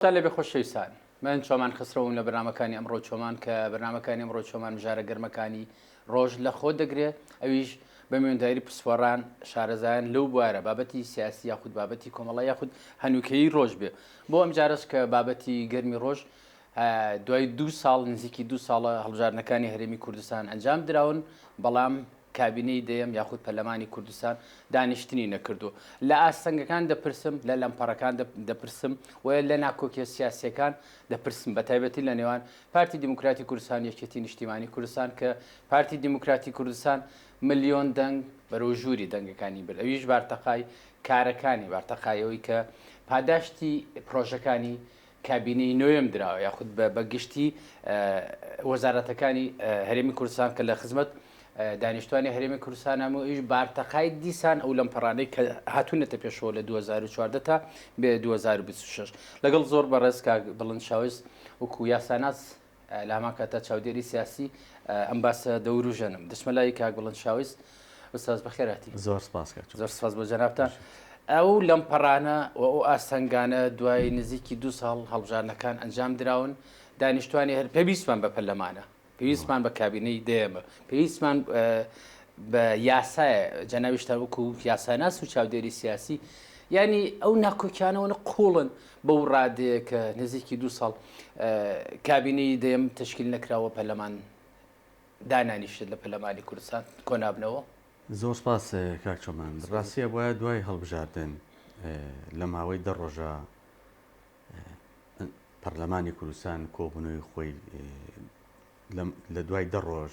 تان لەبێ خۆشەویستان من چۆمان خسرەوم لە بەرنامەکانی ئەمڕۆ چۆمان کە بەرنامەکانی ئەمڕۆ چۆمان مژارە گەرمەکانی ڕۆژ لە خۆ دەگرێ ئەویش بە مێنداری پسپۆڕان شارەزایان لەو بوارە بابەتی سیاسی یاخود بابەتی کۆمەڵە یاخود هەنوکەی ڕۆژ بێ بۆ ئەم جارش کە بابەتی گەرمی ڕۆژ دوای دو ساڵ نزیکی دو ساڵە هەڵبژاردنەکانی هەرێمی کوردستان ئەنجام دراون بەڵام کابینەی دەیەم یاخود پەرلەمانی کوردستان دانیشتنی نەکردووە. لە ئاستەنگەکان دەپرسم، لە لەمپەڕەکان دەپرسم و لە ناکۆکیە سیاسیەکان دەپرسم بە تایبەتی لە نێوان پارتی دیموکراتی کوردستان یەکێتی نیشتیمانی کوردستان کە پارتی دیموکراتی کوردستان ملیۆن دەنگ بەرەو ژووری دەنگەکانی برد ئەویش بارتەقای کارەکانی بارتەقای ئەوەی کە پاداشتی پرۆژەکانی کابینەی نۆیەم دراوە یاخود بە گشتی وەزارەتەکانی هەرێمی کوردستان کە لە خزمەت دانیشتوانی هەرێمی کوردستان هەموو ئیش بارتەقای دیسان ئەو لەم پەڕانەی کە هاتوونەتە پێشەوە لە 2014 تا بێ 2026 لەگەڵ زۆر بەڕێز کاک بڵند شاوس وکو یاساناس لە هەمان کاتدا چاودێری سیاسی ئەم باسە دەوروژێنم دەچمە لای کاک بڵند شاویز ئوستاز بەخێرهاتی زۆر سپاس کاک چۆن. زۆر سپاس بۆ جەنابتان ئەو لەم پەڕانە و ئەو ئاستەنگانە دوای نزیکی دو ساڵ هەڵبژاردنەکان ئەنجام دراون دانیشتوانی هەر پێویستمان بە پەرلەمانە پێویستمان بە کابینەی دێمە پێویستمان بە یاسایە جەناویشتان وەکو یاساناس و چاودێری سیاسی ینی ئەو ناکۆکیانەوەە قوڵن و بەو رادەیە کە نزیکی دوو ساڵ کابینەی دەیەم تەشکیل نەکراوە پەرلەمان دانانیشێت لە پەرلەمانی کوردستان کۆنابنەوە؟ زۆر سپاس کاک چۆمان. راستی ئەبوایە دوای هەڵبژاردن لە ماوەی دە رۆژە پەرلەمانی کوردستان کۆبوونەوەی خۆی لە دوای دە رۆژ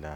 لە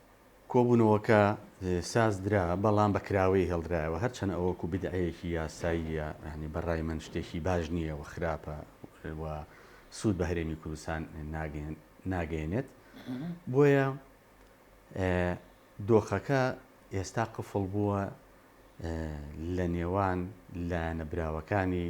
کۆبوونەوەکە سازدرا، بەڵام بە کراوەیی هێڵدرایەوە، هەرچەند ئەوە وەکو بیدعەیەکی یاساییە، یانی بە ڕای من شتێکی باش نییە و خراپە و سوود بە هەرێمی کوردستان ناگەیەنێت، بۆیە دۆخەکە ئێستا قفڵ بووە لە نێوان لایەنە براوەکانی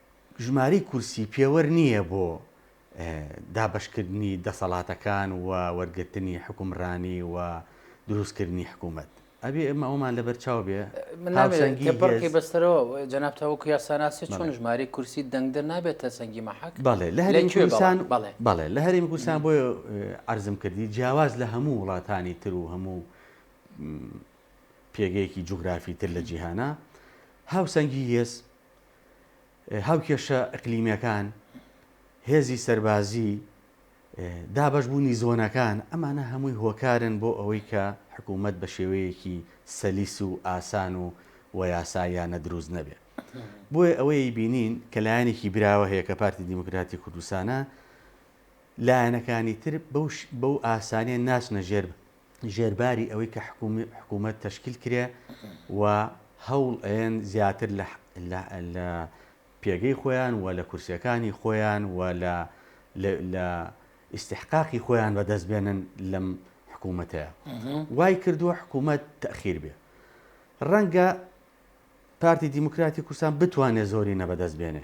ژمارەی کورسی پێوەر نییە بۆ دابەشکردنی دەسەڵاتەکان و وەرگرتنی حوکمڕانی و دروستکردنی حکوومەت. ئەبێ ئێمە ئەوەمان لەبەر چاو بێ هاوسەنگی هێز. تێپەڕکەی بەستەرەوە جەناب تە وەکوو یاساناس چۆن ژمارەی کورسی دەنگدەر نابێتە سەنگی مەحەک؟ بەڵێ لە هەرێمی کوردستان بەڵێ بەڵێ لە هەرێمی کوردستان بۆیە عەرزم کردی جیاواز لە هەموو وڵاتانی تر و هەموو پێگەیەکی جوگرافی تر لە جیهانا هاوسەنگی هێز هاوکێشە ئەقلیمیەکان، هێزی سەربازی، دابەش بوونی زۆنەکان، ئەمانە هەمووی هۆکارن بۆ ئەوەی کە حکوومەت بە شێوەیەکی سەلیس و ئاسان و و یاساییانە دروست نەبێ. بۆیە ئەوەی بینین کە لایەنێکی براوە هەیە کە پارتی دیموکراتی کوردستانە، لایەنەکانی تر بەو بەو ئاسانیە ناچنە ژێر ژێرباری ئەوەی کە حکوومەت تەشکیل کرێ و هەوڵ ئەیەن زیاتر لە پێگەی خۆیان و لە کورسەکانی خۆیان و لە ئیسیحقاقی خۆیان بەدەست بێنن لەم حکوومەتەیە وای کردووە حکوومەت تەخیر بێ ڕەنگە پارتی دیموکراتی کوردستان بتوانێت زۆری نەبەدەست بێنێ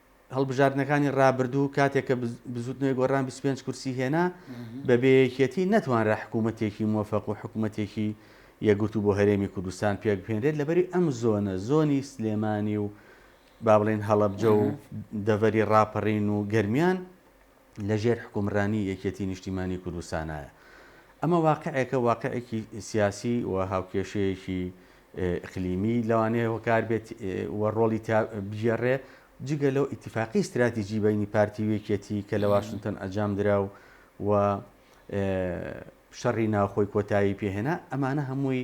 هەڵبژاردنەکانی ڕابردوو کاتێک کە بزوتنەوەی گۆڕان 25 کورسی هێنا بە بەیەکێتی نەتوانرا حکوومەتێکی مۆفەق و حکوومەتێکی یەگرتو بۆ هەرێمی کوردستان پێک بهێنرێت لەبەری ئەم زۆنە زۆنی سلێمانی و با بڵێن هەڵەبجە و دەڤەری ڕاپەڕین و گەرمیان لە ژێر حکومرانی یەکێتی نیشتیمانی کوردستانایە. ئەمە واقعێکە، واقعێکی سیاسی و هاوکێشەیەکی ئقلیمی لەوانەیە هۆکار بێت و ڕۆڵی تیا بگێڕێ، جگە لەو ئیتیفاقی ستراتیجی بەینی پارتی و یەکێتی کە لە واشنتۆن ئەجام درا و و شەڕی ناوخۆی کۆتایی پێ هێنا، ئەمانە هەمووی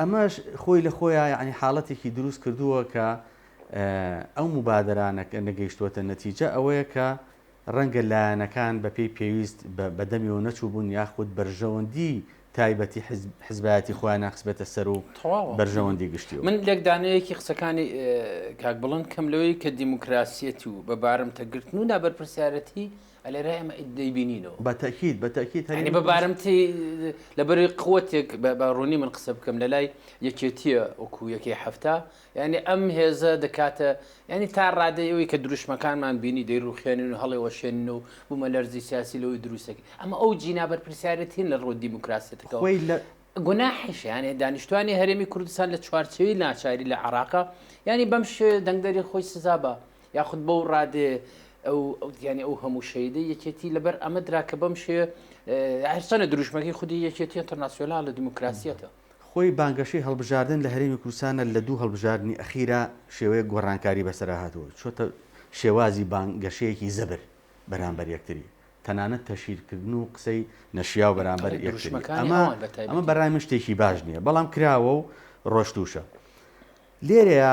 ئەمەش خۆی لە خۆیا یەعنی حاڵەتێکی دروست کردووە کە ئەو موبادەرە نەگەیشتووەتە نەتیجە ئەوەیە کە ڕەنگە لایەنەکان بە پێی پێویست بە دەمیەوە نەچووبوون یاخود بەرژەوەندی تایبەتی حزبایەتی خۆیانە خسبێتە سەر و بەرژەوەندی گشتی من لێک دانەیەکی قسەکانی کاک بڵند کەم لەوەی کە دیموکراسیەتی و بە بارمتەگرتن و نابەرپرسیارەتی لێرە ئێمە دەیبینینەوە. بە تەئکید بە تەئکید هەرێمی کوردستان. یانی بارمتەی لەبەر قوتێک بە ڕوونی من قسە بکەم لە لای یەکێتییە وەکوو یەکەی حەفتا یانی ئەم هێزە دەکاتە یانی تا ڕادەی ئەوی کە دروشمەکانمان بینی دەیڕوخێنن و هەڵێوەشێنن و بوومە لەرزی سیاسی لەوەی دروستەکە ئەمە ئەو جینا بەرپرسیارەتین لە ڕووە دیموکراسێتەکە خۆی لە گوناحیشیانێ دانیشتوانی هەرێمی کوردستان لە چوارچەوی ناچاری لە عراقە ینی بەم شێ دەنگدەری خۆی سزا بە یاخود بەو ڕادەیە ئەو گیانی ئەو هەموو شەیدەی یەکێتی لەبەر ئەمە درا کە بەم شێ هەرچەنە دروشمەکەی خودی یەکێتی ئەتەرناسیۆنال لە دیموکراسیەتە. خۆی بانگەشەی هەڵبژاردن لە هەرێمی کوردستانە لە دوو هەڵبژاردنی ئەخیرا شێوەیەک گۆڕانکاری بەسەرا هاتووە چۆتە شێوازی بانگەشەیەکی زەبر بەرامبەر یەکتری تەنانەت تەشهیرکردن و قسەی نەشیاو بەرامبەر یەکتری ئەمە ئەمە بەڕای من شتێکی باش نییە بەڵام کراوە و ڕۆشتووشە لێرەیە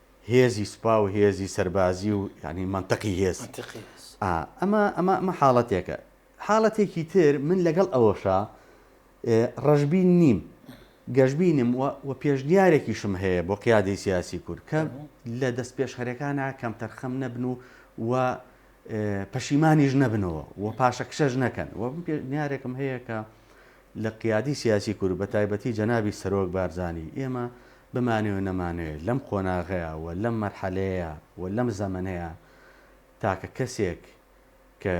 هێزی سوپا و هێزی سەربازی و یانی مەنتقی هێز ئا ئەمە ئەمە ئەمە حاڵەتێکە حاڵەتێکی تر من لەگەڵ ئەوەشا ڕەشبین نیم گەشببینم و پێشنیارێکیشم هەیە بۆ قیادی سیاسی کورد کە لە دەست پێشخەرەکانە کەم تەرخەم نەبن و و پەشیمانیش نەبنەوە و پاشەکشەش نەکەن و پێنیارێکم هەیە کە لە قیادی سیاسی کورد و بە تایبەتی جەنابی سەرۆک بارزانی، ئێمە بمانەوێ نەمانەوێ لەم قۆناغەیا و لەم مەرحەلەیەیا و لەم زەمەنەیا تاکە کەسێک کە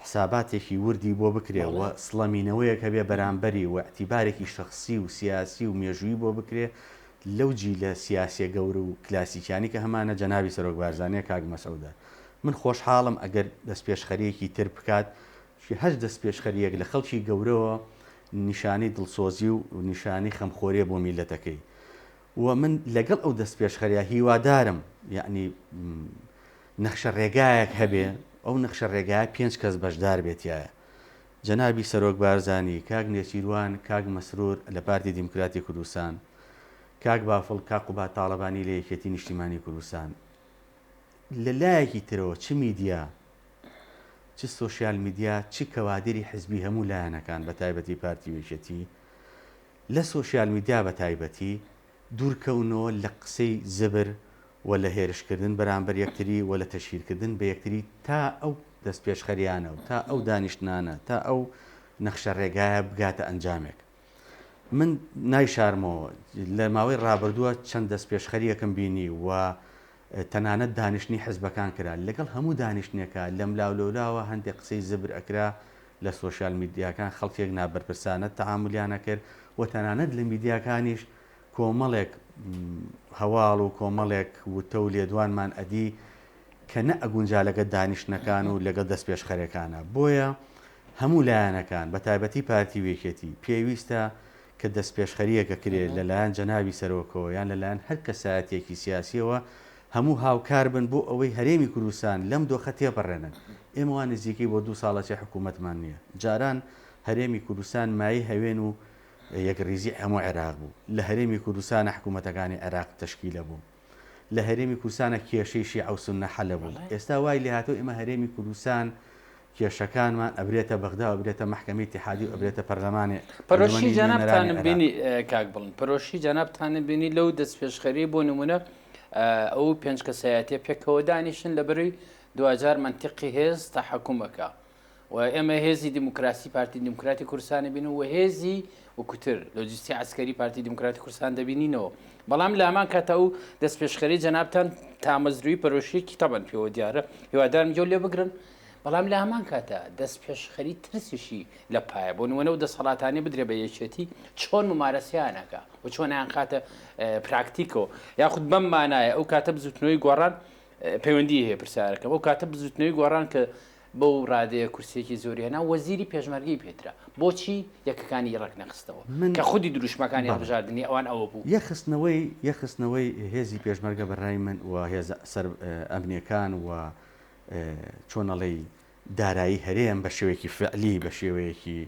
حساباتێکی وردی بۆ بکرێ و سڵەمینەوەیەک هەبێ بەرامبەری و ئیعتیبارێکی شەخسی و سیاسی و مێژوویی بۆ بکرێ لەو جیلە سیاسیە گەورە و کلاسیکیانی کە هەمانە جەنابی سەرۆک بارزانیە کاک مەسعودە من خۆشحاڵم ئەگەر دەستپێشخەریەکی تر بکات چی هەر دەستپێشخەرییەک لە خەڵکی گەورەوە نیشانەی دڵسۆزی و نیشانەی خەمخۆریە بۆ میللەتەکەی و من لەگەڵ ئەو دەستپێشخەرە هیوادارم یەعنی نەخشە ڕێگایەک هەبێ ئەو نەخشە ڕێگایە پێنج کەس بەشدار بێ تیایە جەنابی سەرۆک بارزانی، کاک نێچیروان، کاک مەسرور لە پارتی دیموکراتی کوردستان، کاک بافڵ، کاک قوباد تاڵەبانی لە یەکێتی نیشتیمانی کوردستان لە لایەکی ترەوە چ میدیا چ سۆشیال میدیا چ کەوادری حزبی هەموو لایەنەکان بەتایبەتی پارتی و یەکێتی لە سۆشیال میدیا بەتایبەتی دوورکەونەوە لە قسەی زبر و لە هێرشکردن بەرامبەر یەکتری و لە تەشهیرکردن بە یەکتری تا ئەو دەستپێشخەریانە و تا ئەو دانیشتنانە تا ئەو نەخشەڕێگایە بگاتە ئەنجامێک. من نایشارمەوە، لە ماوەی ڕابردووە چەند دەستپێشخەرییەکم بینی و تەنانەت دانیشتنی حزبەکان کرا، لەگەڵ هەموو دانیشتنێکا لەملا و لەولاوە هەندێک قسەی زبر ئەکرا، لە سۆشیال میدیاکان خەڵکێک نابەرپرسانە تەعامولیان ئەکرد و تەنانەت لە میدیاکانیش کۆمەڵێک هەواڵ و کۆمەڵێک وتە و لێدوانمان ئەدی کە نەئەگونجا لەگەڵ دانیشتنەکان و لەگەڵ دەستپێشخەرەکانا، بۆیە. هەموو لایەنەکان، بە تایبەتی پارتی و یەکێتی، پێویستە کە دەستپێشخەرییەکە کرێ لە لایەن جەنابی سەرۆکەوە یان لە لایەن هەر کەسایەتییەکی سیاسییەوە، هەموو هاوکار بن بۆ ئەوەی هەرێمی کوردستان لەم دۆخە تێپەڕێنن. ئێمە وا نزیکەی بۆ دوو ساڵە چێ حکوومەتمان نییە. جاران هەرێمی کوردستان مایەی هەوێن و یەکڕیزیی هەموو عێراق بوو. لە هەرێمی کوردستانە حکوومەتەکانی عێراق تەشکیلە بوون. لە هەرێمی کوردستانە کێشەی شیعە و سوننە حەلبوو ئێستا وای لێهاتوە ئێمە هەرێمی کوردستان کێشەکانمان ئەبرێتە بەغدا و ئەبرێتە مەحکەمەی اتحادی و ئەبرێتە پەرلەمانێ پەرۆشی جەنابتانم بینی کاک بڵند پەرۆشی جەنابتانم بینی لەو دەستپێشخەری بۆ نمونە ئەو پێنج کەسایەتە پێکەوە دانیشن لە بەروی دواجار منتیقی هێز تاحکومەکە و ئێمە هێزی دیموکراسی پارتی دیموکراتی کوردستان دەبین و هێزی وکوتر لۆجستی عسکەری پارتی دیموکراتی کوردستان دەبینینەوە بەڵام لامان کاتە ئەو دەست پێشخەری جەنابان تامەزروی پەرۆشیەکی تەبەن پێوە دیارە هیوادارم جۆ لێ بگرن بەڵام لە هەمان کاتە دەست پێشخەری ترسیشی لە پایە بۆ نوەنە و دەسەڵاتانی بدرێ بە یەکێتی چۆن ممارەسیانەکە و چۆنیان خاتە پراکتیکەوە یاخود بەم مانایە ئەو کاتە بزوتنەوەی گۆڕان پەیوەندی هەیە پرسیارەکە ئەو کاتە بزوتنەوەی گۆڕان کە بەو رادەیە کورسیەکی زۆری هێنا وەزیری پێشمەرگەی پێدرا بۆچی یەکەکانی رەک نەخستەوە کە خودی دروشمەکانی هەڵبژاردنی ئەوان ئەوە بوو. یەکخستنەوەی یەکخستنەوەی هێزی پێشمەرگە بە رای من و هێزە سەر ئەمنیەکان و چۆن ئەڵێی دارایی هەرێم بە شێوەیەکی فعلی بە شێوەیەکی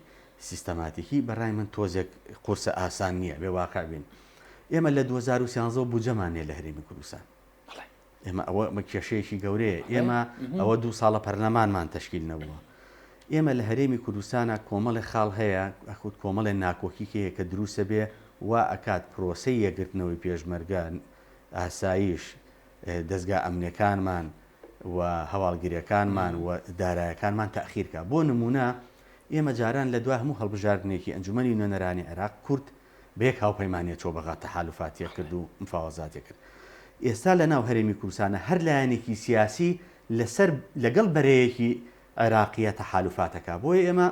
سیستەماتیکی بە رای من تۆزێک قورسە ئاسان نیە بێ واقع بین ئێمە لە دوو هەزار و سیانزە بودجەمان نیە لە هەرێمی کوردستان ئێمە ئەوە ئەمە کێشەیەکی گەورەیە ئێمە ئەوە دوو ساڵە پەرلەمانمان تەشکیل نەبووە ئێمە لە هەرێمی کوردستانە کۆمەڵی خاڵ هەیە ئەخود کۆمەڵێ ناکۆکیکەیە کە دروستە بێ وا ئەکات پرۆسی یەگرتنەوەی پێشمەرگە ئاسایش دەستگا ئەمنەکانمان و هەواڵگرەکانمان و دارایەکانمان تاخیرکە بۆ نمونە ئێمە جاران لە دوا هەموو هەڵبژاردنێکی ئەنجومی نوێنەرانی عێراق کورد بە یەک هاوپەیمانیە چۆ بەغا تەحالوفاتیە کرد و مفاوەزاتیە کرد ئێستا لە ناو هەرێمی کوردستانە هەر لایەنێکی سیاسی لە سەر لە گەڵ بەرەیەکی عێراقیە تەحالوفاتەکە بۆیە ئێمە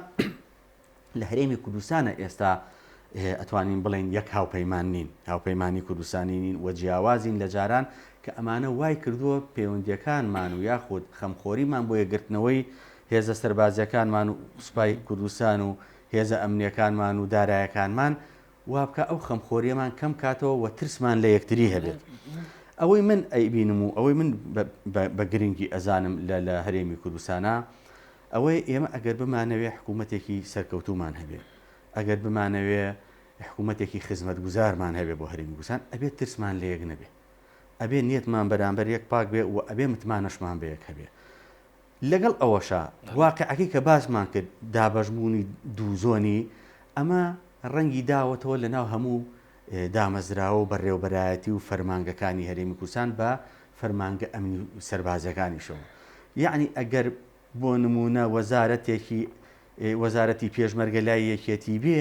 لە هەرێمی کوردستانە ئێستا ئەتوانین بڵێن یەک هاوپەیمان نین هاوپەیمانی کوردستانی نین و جیاوازین لە جاران کە ئەمانە وای کردووە پەیوەندیەکانمان و یاخود خەمخۆریمان بۆ یەگرتنەوەی هێزە سەربازیەکانمان و سوپای کوردستان و هێزە ئەمنییەکانمان و دارایەکانمان وابکا ئەو خەمخۆریەمان کەم کاتەوە و ترسمان لە یەکتری هەبێت. ئەوەی من ئەیبینم و ئەوەی من بە گرنگی ئەزانم لە هەرێمی کوردستانا ئەوەی ئێمە ئەگەر بمانەوێ حکوومەتێکی سەرکەوتومان هەبێ ئەگەر بمانەوێ حکوومەتێکی خزمەت گوزارمان هەبێ بۆ هەرێمی گوسان ئەبێت ترسمان لە یەک نەبێ ئەبێ نیەتمان بەرامبەر یەک پاک بێ و ئەبێ متمانەشمان بە یەک هەبێ لەگەڵ ئەوەشا واقیعەکەی کە باسمان کرد، دابەشبوونی دوو زۆنی، ئەمە ڕەنگی داوەتەوە لە ناو هەموو دامەزراوە و بەڕێوەبەرایەتی و فەرمانگەکانی هەرێمی کوردستان بە فەرمانگە ئەمنی و سەربازیەکانیشەوە. یەعنی ئەگەر بۆ نموونە وەزارەتێکی وەزارەتی پێشمەرگە لای یەکێتی بێ،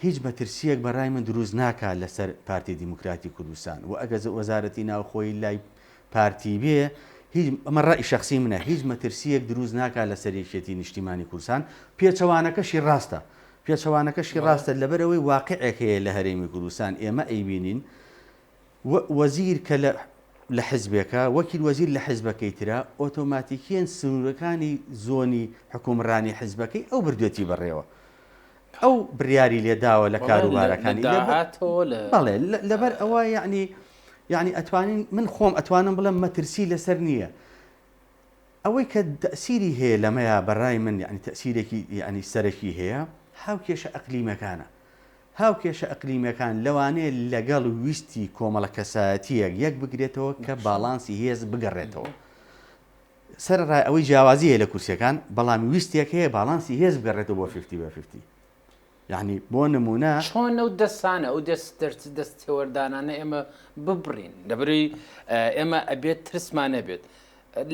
هیچ مەترسیەک بە رای من دروست ناکات لە سەر پارتی دیموکراتی کوردستان وە ئەگەر وەزارەتی ناوخۆیی لای پارتی بێ هیچ ئەمە رای شەخسی منە هیچ مەترسیەک دروست ناکات لە سەر یەکێتی نیشتیمانی کوردستان پێچەوانەکەشی راستە پێچەوانەکەشی راستە لە بەرئەوەی واقعێک هەیە لە هەرێمی کوردستان ئێمە ئەیبینین وە وەزیر کە لە لە حزبێکە وەکیل وەزیر لە حزبەکەی ترە ئۆتۆماتیکیەن سنورەکانی زۆنی حکومڕانی حزبەکەی ئەو بردوێتی بەڕێوە ئەو بریاری لێداوە لە کاروبارەکانی بەڵێ لەبەر ئەوە یعنی یعنی ئەتوانین من خۆم ئەتوانم بڵم مەترسی لەسەر نییە ئەوەی کە تەسیری هەیە لەمەیە بەڕای من یعنی تەسیرێکی یعنی سەرەکی هەیە هاو کێشە ئەقلیمەکانە هاو کێشە ئەقلیمەکان لەوانەیە لەگەڵ ویستی کۆمەڵە کەسایەتیەک یەک بگرێتەوە کە باڵانسی هێز بگەڕێتەوە. سەرەڕای ئەوەی جیاوازی هەیە لە کورسیەکان بەڵام ویستێک هەیە باڵانسی هێز بگەڕێتەوە بۆ فیفتی بە فیفتی یەعنی بۆ نمونە. چۆن ئەو دەستانە ئەو دەست دەرچ دەست تێوەردانانە ئێمە ببڕین لەبەرەوەی ئێمە ئەبێت ترسمان نەبێت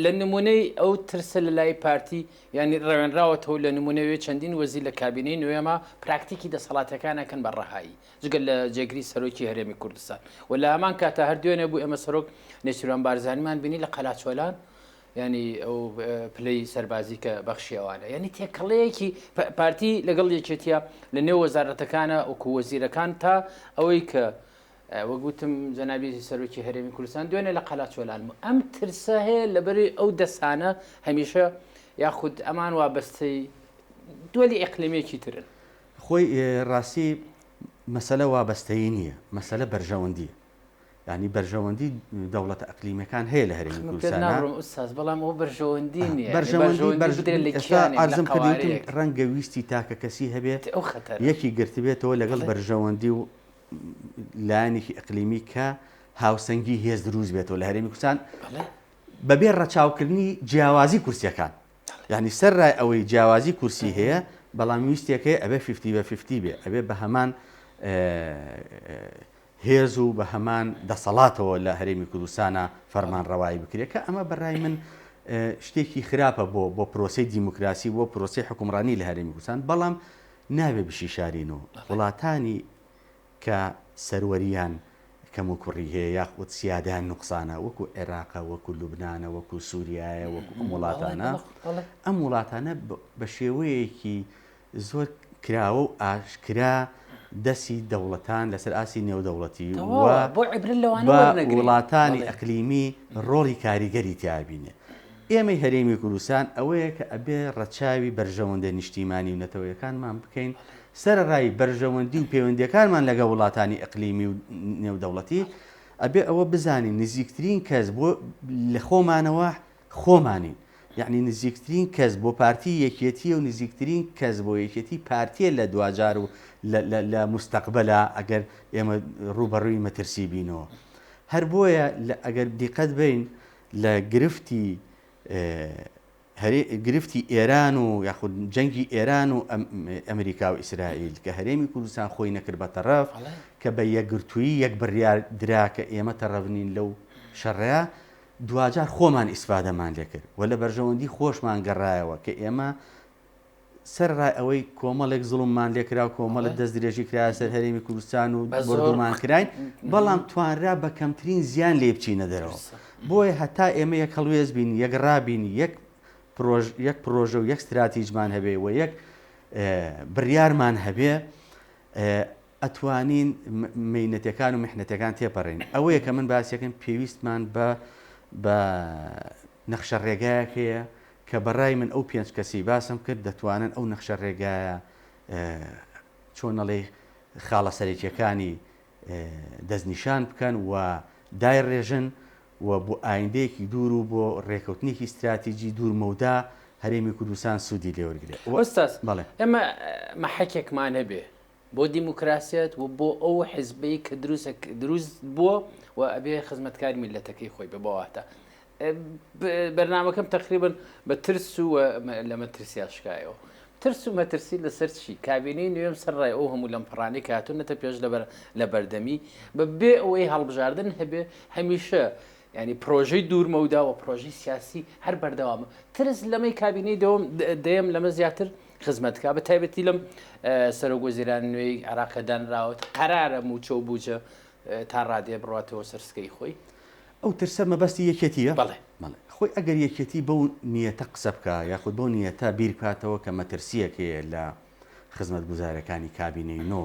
لە نمونەی ئەو ترسە لە لای پارتی یانی ڕەوێنراوەتەوە لە نمونەوێ چەندین وەزیر لە کابینەی نوێما پراکتیکی دەسەڵاتەکانەکەن بە ڕەهایی جگە لە جێگری سەرۆکی هەرێمی کوردستان و لە هەمان کاتا هەر دوێنێ بوو ئێمە سەرۆک نێچیروان بارزانیمان بینی لە قەلاچۆلان ینی ئەو پلەی سەربازی کە بەخشی ئەوانە ینی تێکەڵەیەکی پارتی لەگەڵ یەکێتە لە نێو وەزارەتەکانە وەکو وەزیرەکان تا ئەوەی کە وەگوتم جەنابی سەرۆکی هەرێمی کوردستان دوێنێ لە قەلاچۆلان ئەم ترسە هەیە لەبەری ئەو دەسانە هەمیشە یاخود ئەمان وابەستەی دولی ئەقلمێکی ترن خۆی ڕاستی مەسەلە وابەستەیی نییە، مەسەلە بەرژەوەندییە. یانی بەرژەوەندی دەوڵەتە ئەقلیمیەکان هەیە لە هەرێمی کوردستان. قسەت ناڕم ئوستاز، بەڵام ئەوە بەرژەوەندی نییە. بەرژەوەندی بدرێت لە کیانێک، لە قەوارەیەک. ڕەنگە ویستی تاکەکەسی هەبێ، یەکی گرتبێتەوە لەگەڵ بەرژەوەندی و لایەنێکی ئەقلیمی کە هاوسەنگی هێز دروست بێتەوە لە هەرێمی کوردستان بەبێ ڕەچاوکردنی جیاوازی کورسیەکان. یانی سەررای ئەوەی جیاوازی کورسی هەیە بەڵام ویستێک هەیە ئەبێ فیفتی بە فیفتی بێ ئەبێ بە هەمان هێز و بە هەمان دەسەڵاتەوە لە هەرێمی کوردستانە فەرمان ڕەوایی بکرێت کە ئەمە بەڕای من شتێکی خراپە بۆ بۆ پرۆسی دیموکراسی بۆ پرۆسی حکومڕانی لە هەرێمی کوردستان بەڵام نابێ بشی شارین و وڵاتانی کە سەروەرییان کەموکوڕی هەیە یاخود سیادەیان نوقسانە وەکو عێراقە وەکو لوبنانە وەکو سوریایە وەکو ئەم وڵاتانە ئەم وڵاتانە بە شێوەیەکی زۆر کراوە و ئاشکرا دەسی دەوڵەتان لەسەر ئاسی نێودەوڵەتی وڵاتانی ئەقلیمی ڕۆڵی کاریگەری تیابینێ ئێمەی هەرێمی کوردستان ئەوەیە کە ئەبێ ڕەچاوی بەرژەوەندە نیشتیمانی و نەتەوەیەکانمان بکەین سەرەڕای بەرژەوەندی و پەیوەندیەکانمان لەگەڵ وڵاتانی ئەقلیمی و نێودەوڵەتی، ئەبێ ئەوە بزانین نزیکترین کەس بۆ لە خۆمانەوە خۆمانین، یەعنی نزیکترین کەس بۆ پارتی یەکێتییە و نزیکترین کەس بۆ یەکێتی پارتییە لە دواجار و لە موستەقبەلا ئەگەر ئێمە ڕووبەڕووی مەترسی بینەوە. هەر بۆیە ئەگەر دیقەت بەین لە گرفتی هەرێ گرفتی ئێران و یاخود جەنگی ئێران و ئە ئەمریکا و ئیسرائیل کە هەرێمی کوردستان خۆی نەکرد بە تەڕەف ئەڵێ. کە بە یەکگرتوویی یەک بڕیار درا کە ئێمە تەڕەف نین لەو شەڕە دواجار خۆمان ئیسفادەمان لێ کرد و لە بەرژەوەندی خۆشمان گەڕایەوە کە ئێمە سەرەڕای ئەوەی کۆمەڵێک زوڵممان لێکرا و کۆمەڵێک دەستدرێژی کرایە سەر هەرێمی کوردستان و بۆردومان کراین، بەڵام توانرا بە کەمترین زیان لێی بچینە دەرەوە. بۆیە هەتا ئێمە یەک هەڵوێست بین، یەکڕا بین، یەک پڕۆژە و یەک ستراتیجمان هەبێ و یەک بڕیارمان هەبێ، ئەتوانین مەینەتەکان و میحنەتەکان تێپەڕێنین ئەوەیە کە من باسیەکەم پێویستمان بە بە نەخشە ڕێگایەک هەیە کە بەڕای من ئەو پێنج کەسی باسم کرد دەتوانن ئەو نەخشە ڕێگایە چۆنەڵی خاڵە سەرەکیەکانی دەستنیشان بکەن و دای ڕێژن و بۆ ئایندەیەکی دوور و بۆ ڕێکەوتنێکی استراتیجی دوور مەودا هەرێمی کوردستان سوودی لێوەرگێ ئێمە مەحەکێکمان هەبێ بۆ دیموکراسیەت و بۆ ئەو حزبەی کە دروسە دروست بووە و ئەبێ خزمەتکاری میلەتەکەی خۆی بە بەواتە بەرنمەکەم تقریبن بە ترس و لە مەترسیا شکایەوە ترس و مەترسی لەسەر چی کابینەی نوێم سەر ڕای ئەو هەموو لەم پڕانی کاتونەتە پێش لەبەر لە بەردەمی بە بێ ئەوەی هەڵبژاردن هەبێ هەمیشە یانی پرۆژەی دوور مەودا و پرۆژەی سیاسی هەر بەردەوامە. ترس لەمەی کابینەی دەوەم دەیەم لەمە زیاتر خزمەت کا بە تایبەتی لەم سەرۆک وەزیران نوێی عێراقە دانراوەت قەرارە مووچە و بووجە تا ڕادەیە بڕاتەوە سەر سکەی خۆی. ئەو ترسە مەبەستی یەکێتییە؟ بەڵێ. بەڵێ. خۆی ئەگەر یەکێتی بەو نیەتە قسە بکا یاخود بەو نیەتە بیر بکاتەوە کە مەترسییەک هەیە لە خزمەتگوزارییەکانی کابینەی نۆ،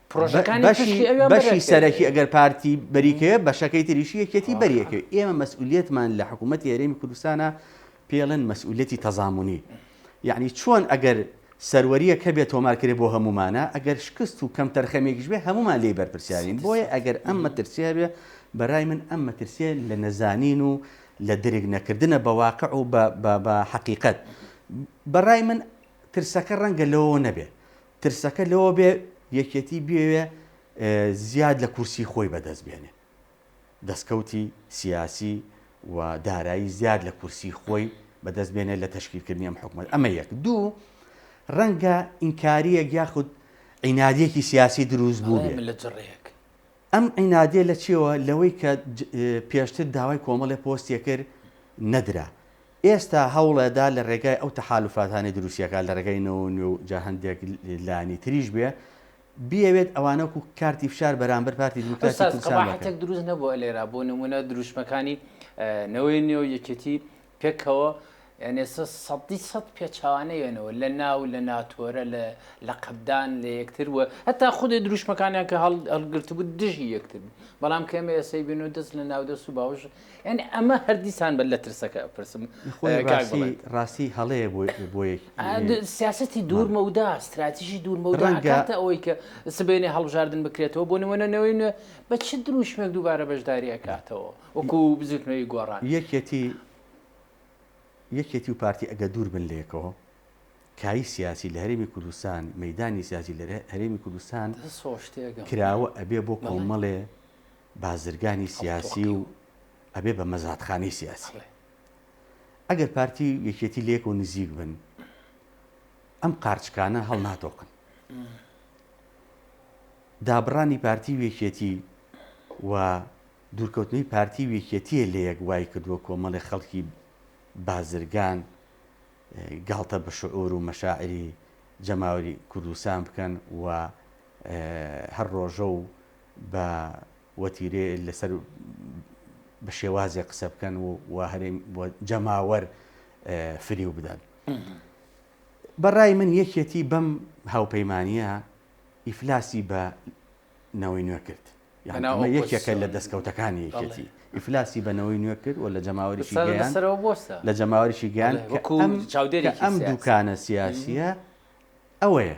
بەشی سەرەکی ئەگەر پارتی بەریکەیە بەشەکەی تریشی یەکێتی بەریەکە ئێمە مەسئولێتمان لە حکوومەت یاێمی کوردستانە پێڵێن مەسئولەتی تەزامونی یعنی چۆن ئەگەر سەروەریە کە بێت تۆمارکرێ بۆ هەمومانە ئەگەر شکست و کەم تەرخەمێکیش بێ هەمومان لی بەرپرسیارین بۆیە ئەگەر ئەم مەترسیا بێ بەرای من ئەم مەترسیە لە نەزانین و لە درک نەکردنە بە واقع و بە حقیقت بەڕای من ترسەکە ڕەنگە لەوە نەبێ ترسەکە لەوە بێ یەکێتی بیەوێ زیاد لە کورسی خۆی بەدەست بێنێ، دەستکەوتی سیاسی و دارایی زیاد لە کورسی خۆی بەدەست بێنێ لە تەشکیلکردنی ئەم حکومەت، ئەمە یەک. دوو، رەنگە ئینکارییەک یاخود عینادییەکی سیاسی دروست بووبێ. ئەم عینادییە لە چییەوە؟ لەوەی کە پێشتر داوای کۆمەڵێ پۆستی کرد نەدرا. ئێستا هەوڵئەدا لە رێگای ئەو تەحالوفاتانەی دروستیەکات لە رێگای نەوەو نوێ و جا هەندێک لانی تریش بێ بیەوێت ئەوانە وەکو کارتی فشار بەرامبەر پارتی دیموکراتی کوردستان بکەن. ئوستاز قەباحەتێک دروست نەبووە لێرا بۆ نمونە دروشمەکانی نەوەی نوێ و یەکێتی پێکەوە یان ئێستا سەدی سەد پێچەوانە یەنەوە لە ناو لە ناتۆرە لە لەقەبدان لە یەکتر و هەتا خودێ دروشمەکانیان کە هەڵگرتبوو دژی یەکتر بوو بەڵام کە ئێمە ئێسەی بینو دەست لە ناو دەست و باوش یانی ئەمە هەر دیسان بە لە ترسەکە ئەپرسم خۆی کاک ڕاسی بڵند. ڕاستی هەڵەیە بۆ بۆ یەک ئا، د- سیاسەتی دوور مەودا ستراتیژی دوور مەودا ڕەنگە- ئەکاتە ئەوەی کە سبەینێ هەڵبژاردن بکرێتەوە بۆ نموونە نەوەی نوێ بە چ درووشمێک دووبارە بەشداری ئەکاتەوە وەکو بزووتنەوەی گۆڕان یەکێتی یەکێتی و پارتی ئەگەر دوور بن لەیەکەوە کایی سیاسی لە هەرێمی کوردستان مەیدانی سیاسی لە هەرێمی کوردستان دەست خۆش تێگەم کراوە ئەبێ بۆ بەڵێ. کۆمەڵێ بازرگانی سیاسی و ئەبێ بە مەزادخانەی سیاسی ئەگەر پارتی و یەکێتی لەیەک و نزیک بن ئەم قارچکانە هەڵناتۆقن دابڕانی پارتی وێکێتی و دوورکەوتنی پارتی وێکێتیە لە یەک وای کردووە کۆمەڵی خەڵکی بازرگان گاڵتە بە شعور و مەشاعری جەماوەری کوردستان بکەن و هەر ڕۆژە و بە وەتیرێ لەسەر بە شێوازێ قسە بکەن و و هەرێم جەماوەر فریو بدەن بەڕای من یەکێتی بەم هاوپەیمانە ئیفلاسی بە نەوەی نوێ کرد یەکێکە لە دەستکەوتەکانی یەکێتی ئیفلاسی بە نەوەی نوێ کرد و لە جەماوەریشی لە جەماوەریشی گیان چاودێری ئەم دوکانە سیاسیە ئەوەیە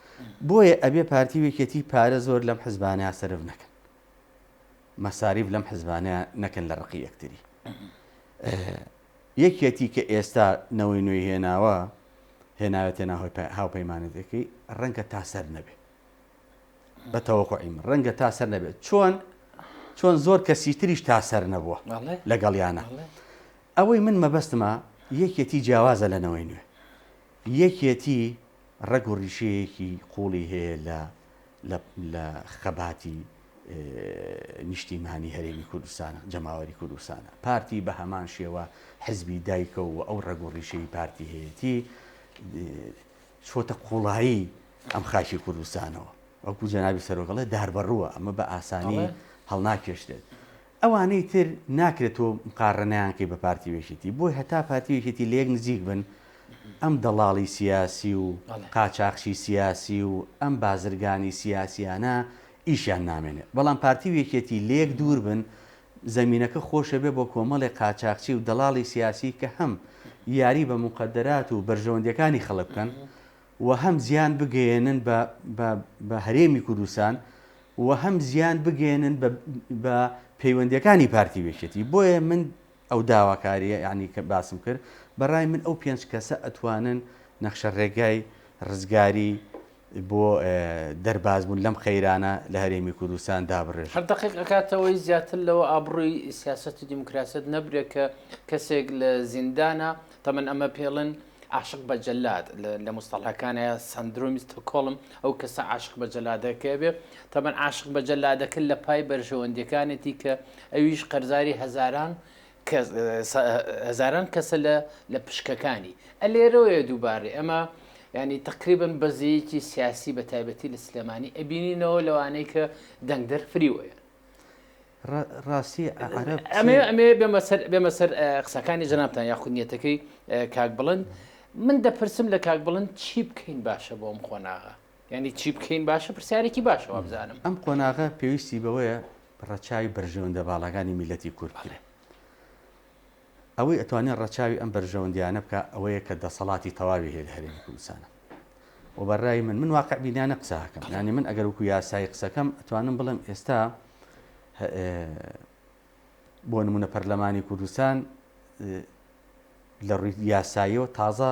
بۆیە ئەبێ پارتی و یەکێتی پارە زۆر لەم حزبانە سەرف نەکەن مەساریف لەم حزبانە نەکەن لە ڕقی یەکتری یەکێتی کە ئێستا نەوەی نوێی هێناوە هێناوێتە ناهۆی هاوپەیمانەتەکەی ڕەنگە تا سەر نەبێت بە تەوەقعیم ڕەنگە تا سەر نەبێت چۆن چۆن زۆر کەسی تریش تا سەر نەبووە لەگەڵ یانە ئەوەی من مەبەستمە یەکێتی جیاوازە لە نەوەی نوێ یەکێتی ڕەگ و ڕیشەیەکی قووڵی هەیە لە لە لە خەباتی نیشتیمانی هەرێمی کوردستان جەماوەری کوردستانە پارتی بە هەمان شێوە حزبی دایکە و ئەو ڕەگ و ڕیشەی پارتی هەیەتی چۆتە قوڵایی ئەم خاکی کوردستانەوە وەکو جەنابی سەرۆکڵێ داربڕووە ئەمە بە ئاسانی هەڵناکێشتێت ئەوانەی تر ناکرێت تۆ مقارەنەیان کەی بە پارتی و یەکێتی بۆی هەتا پارتی و یەکێتی لە یەک نزیک بن ئەم دەڵاڵی سیاسی و قاچاخچی سیاسی و ئەم بازرگانی سیاسیانە ئیشیان نامێنێت بەڵام پارتی و یەکێتی لە یەک دوور بن زەمینەکە خۆش ئەبێت بۆ کۆمەڵێک قاچاخچی و دەڵاڵی سیاسی کە هەم یاری بە موقەدەرات و بەرژەوەندیەکانی خەڵک بکەن و هەم زیان بگەیەنن بە هەرێمی کوردستان و هەم زیان بگەیەنن بە پەیوەندیەکانی پارتی وێکێتی بۆیە من ئەو داواکاریە یعنی کە باسم کرد بەڕای من ئەو پێنج کەسە ئەتوانن نەخشە ڕێگای ڕزگاری بۆ دەربازبوون لەم قەیرانە لە هەرێمی کوردستان دابڕێژ هەر دقیق ئەکاتەوەی زیاتر لەوە ئابڕووی سیاست و دیموکراسەت نەبرێت کە کەسێک لە زیندانە تەمەن ئەمە پێڵن عاشق بە جەلاد لە مستەڵەکانە سندرومی ستۆکۆڵم ئەو کەسە عاشق بە جەلادەکە بێ تەبەن عاشق بە جەلادەکە لە پای بەرژەوەندەکانێتی کە ئەویش قەرزاری هەزاران هەزاران کەسە لە لە پشکەکانی ئەلێرەوەیە دووبارەی ئەمە ینی تقریبن بەزەیەکی سیاسی بە تایبەتی لە سلێمانی ئەبینینەوە لەوانەیە کە دەنگدەر فریوەیە ڕاستی عەرەب ئەمێ چێ؟ ئەمێ بێمە سەر بێمە سەر قسەکانی جەنابتان یاخود نیەتەکەی کاک بڵند من دەپرسم لە کاک بڵند چی بکەین باشە بۆ ئەم قۆناغە یانی چی بکەین باشە پرسیارێکی باشە وابزانم. ئەم قۆناغە پێویستی بەوەیە ڕەچاوی بەرژەوەندە باڵاکانی میللەتی کورد بکرێ. ئەوەی ئەتوانێ ڕەچاوی ئەم بەرژەوەندیانە بکا ئەوەیە کە دەسەڵاتی تەواوی هەیە لە هەرێمی کوردستانا و بە رای من من واقع بینانە قسە هەکەم یانی من ئەگەر وکو یاسایی قسەکەم ئەتوانم بڵێم ئێستا بۆ نمونە پەرلەمانی کوردستان لە ڕووی یاساییەوە تازە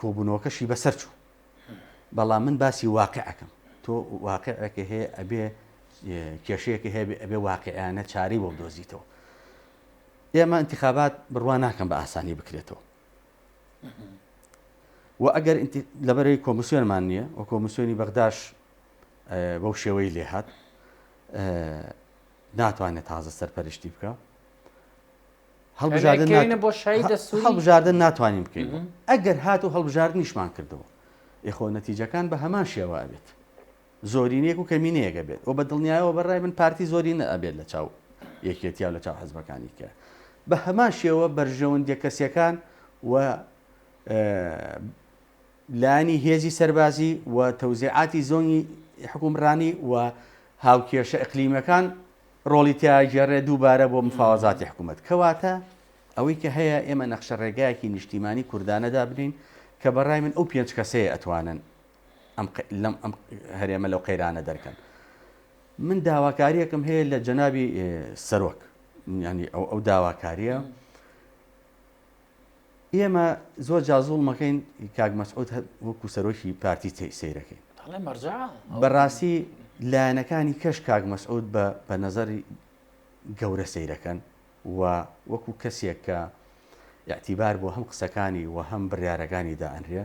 کۆبوونەوەکەشی بەسەر چوو بەڵام من باسی واقعەکەم تۆ واقعەکە هەیە ئەبێ کێشەیەکە هەیە ئەبێ واقعیانە چارەی بۆ دۆزیتەوە ئێمە ئینتیخابات بڕوا ناکەم بە ئاسانی بکرێتەوە و ئەگەر لەبەرەی کۆمسیۆنمان نییە و کۆمسیۆنی بەغداش بەو شێوەی لێهات ناتوانێت تازە سەرپەرشتی بکە هەڵبژاردن بۆ شای دەسوری هەڵبژاردن ناتوانین بکەین ئەگەر هات و هەڵبژاردنیشمان کردەوە یخۆ نەتیجەکان بە هەمان شێوە ئەبێت زۆرینەیەک و کەمینەیەک ئەبێت و بەدڵنیایەوە بەرای من پارتی زۆرینە ئەبێت لەچاو یەکێتیا و لەچاو حزبەکانی کە بەهەمان شێوە بەرژەوەندیە کەسیەکان و لانی هێزی سەربازی و تەوزیعاتی زۆنی حکومڕانی و هاوکێشە ئەقلیمەکان ڕۆڵی تیاگەڕێ دووبارە بۆ مفاوەزاتی حکوومەت کەواتە ئەوەی کە هەیە ئێمە نەخشە ڕێگایەکی نیشتیمانی کوردانەدا بنین کە بەڕای من ئەو پێنج کەسەیە ئەتوانن لەم هەرێمە لەو قەیرانە دەرکەن من داواکاریەکم هەیە لە جەنابی سەرۆک ینی ئەو ئەو داواکاریە ئێمە زۆر جازوڵ مەکەین کاک مەسعود وەکو سەرۆکی پارتی سیرەکەین بەڕاستی لایەنەکانی کەش کاک مەسعود بە بە نەزەری گەورە سیرەکەن و وەکو کەسێک کە یاعتیبار بۆ هەم قسەکانی و هەم بڕارەکانی دائەنرێ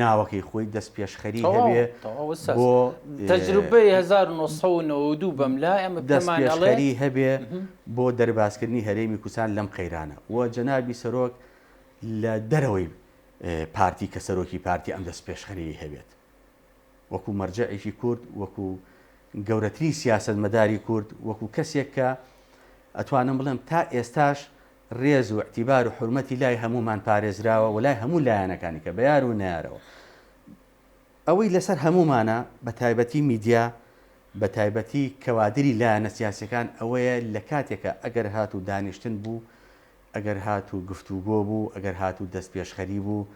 ناوەکەی خۆی دەستپێشخەری هەبێ بۆ دەستپێشخەری هەبێ بۆ دەربازکردنی هەرێمی کوردستان لەم قەیرانە و جەنابی سەرۆک لە دەرەوەی پارتی کە سەرۆکی پارتی ئەم دەستپێشخەریی هەبێت وەکو مەرجەعێکی کورد وەکو گەورەترین سیاستمەداری کورد وەکو کەسێک کە ئەتوانم بڵێم تا ئێستاش ڕێز و ئیعتیبار و حورمەتی لای هەموومان پارێزراوە و لای هەموو لایەنەکانی کە بە یار و نەیارەوە ئەوەی لەسەر هەموومانە بە تایبەتی میدیا بە تایبەتی کەوادری لایەنە سیاسیەکان ئەوەیە لە کاتێکا ئەگەر هاتوو دانیشتن بوو ئەگەر هاتوو گفتوگۆ بوو ئەگەر هاتوو دەستپێشخەری بوو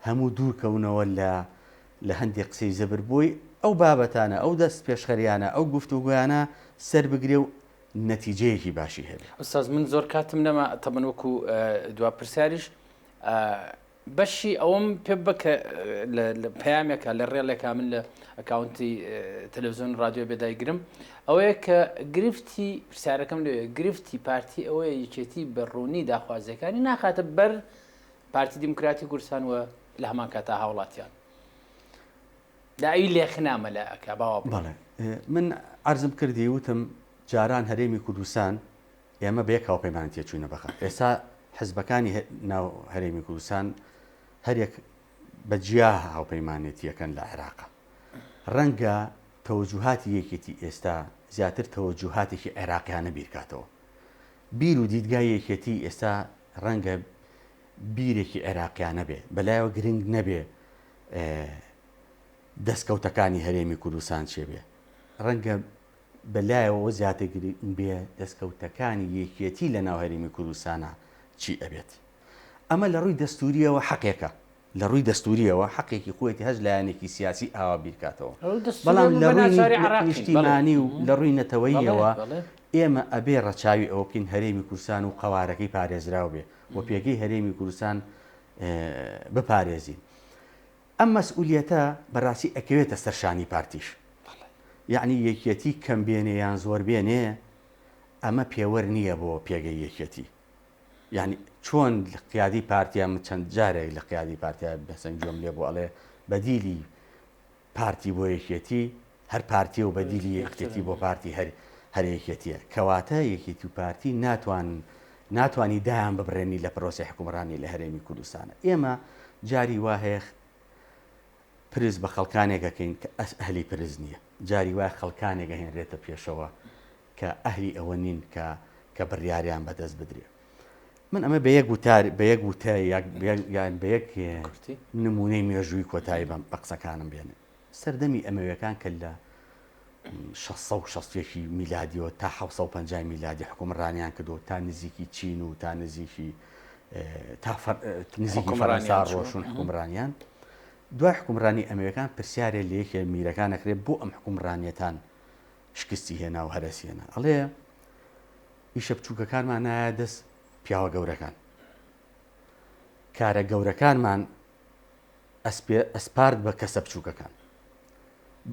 هەموو دوور کەونەوە لە لە هەندێ قسەی زەبر بۆی ئەو بابەتانە ئەو دەستپێشخەریانە ئەو گفتوگۆیانە سەر بگرێ و نەتیجەیەکی باشی هەبێ. ئوستاز من زۆر کاتم نەما تەبەن وەکو دوا پرسیاریش بەشی ئەوم پێ بە کە لە پامێکە لە ڕێڵێکا من لە ئەکاونتی تەلەڤزیۆن رادیۆ بێدایگرم ئەوەیە کە گرفتی پرسیارەکەم لێ گرفتی پارتی ئەوەیە یەکێتی بە ڕوونی داخوازیەکانی ناخاتە بەر پارتی دیموکراتی کوردستان وە لە هەمان کاتا هاوڵاتیان دا ئی لێخنا مەلا ئەکا باوە بڕۆ. بەڵێ من عەرزم کردی وتم جاران هەرێمی کوردستان ئێمە بە یەک هاوپەیمانن تێچووینە بەغا ئێستا حزبەکانی ناو هەرێمی کوردستان هەریەک بە جیا هاوپەیمانێتییەکەن لە عێراق ڕەنگە تەوەجوهاتی یەکێتی ئێستا زیاتر تەوەجوهاتێکی عێراقیانە بیرکاتەوە بیر و دیدگای یەکێتی ئێستا ڕەنگە بیرێکی عێراقیانە بێ بەلایەوە گرنگ نەبێ دەسکەوتەکانی هەرێمی کوردستان چێ بێ ڕەنگە بە لایەوە زیاتر گرنگ بێ دەستکەوتەکانی یەکیەتی لە ناو هەرێمی کوردستانە چی ئەبێت ئەمە لە ڕووی دەستوریەوە حەقێکە لە ڕووی دەستوریەوە حەقێکی خۆێتی هەز لایەنێکی سیاسی ئاوا بیرکاتەوە بەڵام لە ڕووی نیشتیمانی و لە ڕووی نەتەوەیەوە ئێمە ئەبێ ڕەچاوی ئەوکین هەرێمی کورسان و قەوارەکەی پارێزراو بێ و پێگەی هەرێمی کوردستان بپارێزین ئەم مەسئولیەتە بەڕاستی ئەکەوێتە سەر شانی پارتیش یعنی یەکیەتی کەم بێنێ یان زۆر بێنێ ئەمە پێوەەر نییە بۆ پێگەی یەکیەتی یعنی چۆن قیادی پارتیا من چەند جارێک لە قیادی پارتیا بەسەنجۆم لێ بۆ ئەڵێ بەدیلی پارتی بۆ یەکێتی هەر پارتیە و بەدیلی یەکێتی بۆ پارتی هەر هەر یەکێتیە کەواتە یەکێتی و پارتی ناتوان ناتوانی دایان ببرێنی لە پرۆسەی حکومڕانی لە هەرێمی کوردستانە ئێمە جاری وا هەیە پرس بە خەڵکانێکەکەین کە ئەس ئەهلی پرس نییە جاری وای خەڵکانێک ئەهێنرێتە پێشەوە کە ئەهلی ئەوە نین کە کە بڕیاریان بەدەست بدرێ من ئەمە بە یەک وتار بە یەک وتە یان بە یەک نمونەی مێژووی کۆتایی بەم بە قسەکانم بێنێ سەردەمی ئەمەوێکان کە لە 1660 میلادیەوە تا 1950 میلادی حکومڕانیان کردو تا نزیکی چین و تا نزیکی تا نزیکی فەرەنسا ڕۆشون حکومڕانیان دوای حکومڕانی ئەمریکان پرسیارێ لە یەکێ میرەکان نەکرێت بۆ ئەم حکومڕانیەتان شکستی هێنا و هەرەسی هێنا. ئەڵێ ئیشە بچووکەکانمان نایە دەست پیاوە گەورەکان. کارە گەورەکانمان ئەسپارد بە کەسە بچووکەکان.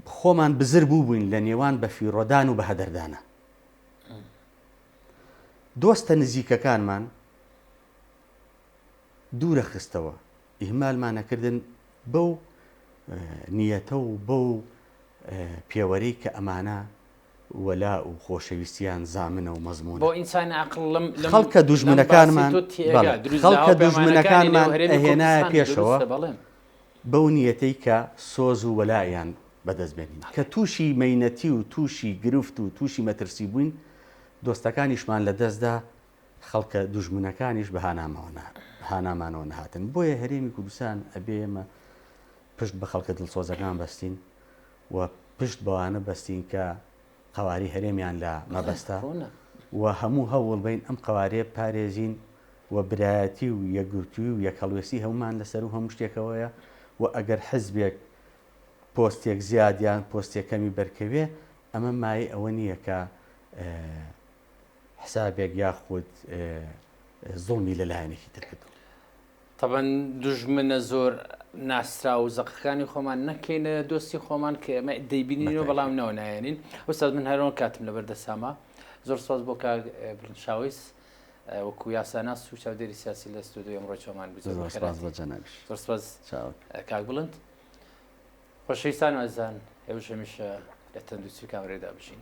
خۆمان بزر بوو بووین لە نێوان بە فیڕۆدان و بە هەدەردانە. دۆستە نزیکەکانمان دوورە خستەوە ئیهمالمان ئەکردن بەو نیەتە و بەو پێوەرەی کە ئەمانە وەلا و خۆشەویستیان زامنە و مەزموونە. خەڵکە دوژمنەکانمان خەڵکە دوژمنەکانمان ئەهێنایە پێشەوە بەو نیەتەی کە سۆز و وەلایان بەدەست بێنین. کە تووشی مەینەتی و تووشی گرفت و تووشی مەترسی بووین، دۆستەکانیشمان لەدەستدا، خەڵکە دوژمنەکانیش بە هانامەوە هانامانەوە نەهاتن بۆیە هەرێمی کوردستان ئەبێ ئێمە پشت بە خەڵکە دڵسۆزەکان بەستین و پشت بەوانە بەستین کە قواری هەرێمیان لە مەبەستە و هەموو هەوڵ بین ئەم قوارێ پارێزین و برایەتی و یەکگرتووی و یەک هەڵوێستی هەمومان لەسەر و هەموو شتێکەوەیە و ئەگەر حزبێک پۆستێک زیادیان پۆستێکەمی بەرکەوێ ئەمە مای ئەوە نییە کە حسابێک یاخود زوڵمی لە لایەنێکی تر کردووە. تەبەن دوژمنە زۆر ناسراو و زەقەکانی خۆمان نەکەینە دۆستی خۆمان کە ئێمە دەیبینینەوە بەڵام نەوە نایێنین ئوستاد من هەرۆن کاتم لەبەر دەسامە زۆر سۆز بۆ کاک برنشاویس وەکو یاساناس و چاودێری سیاسی لە ستۆدو ئەمڕۆ چۆمان بزۆرسپاس کاک بڵند خۆشەویستان ئەزان ئێوە هەمیشە لە تەندوستی کامرێدا بژین.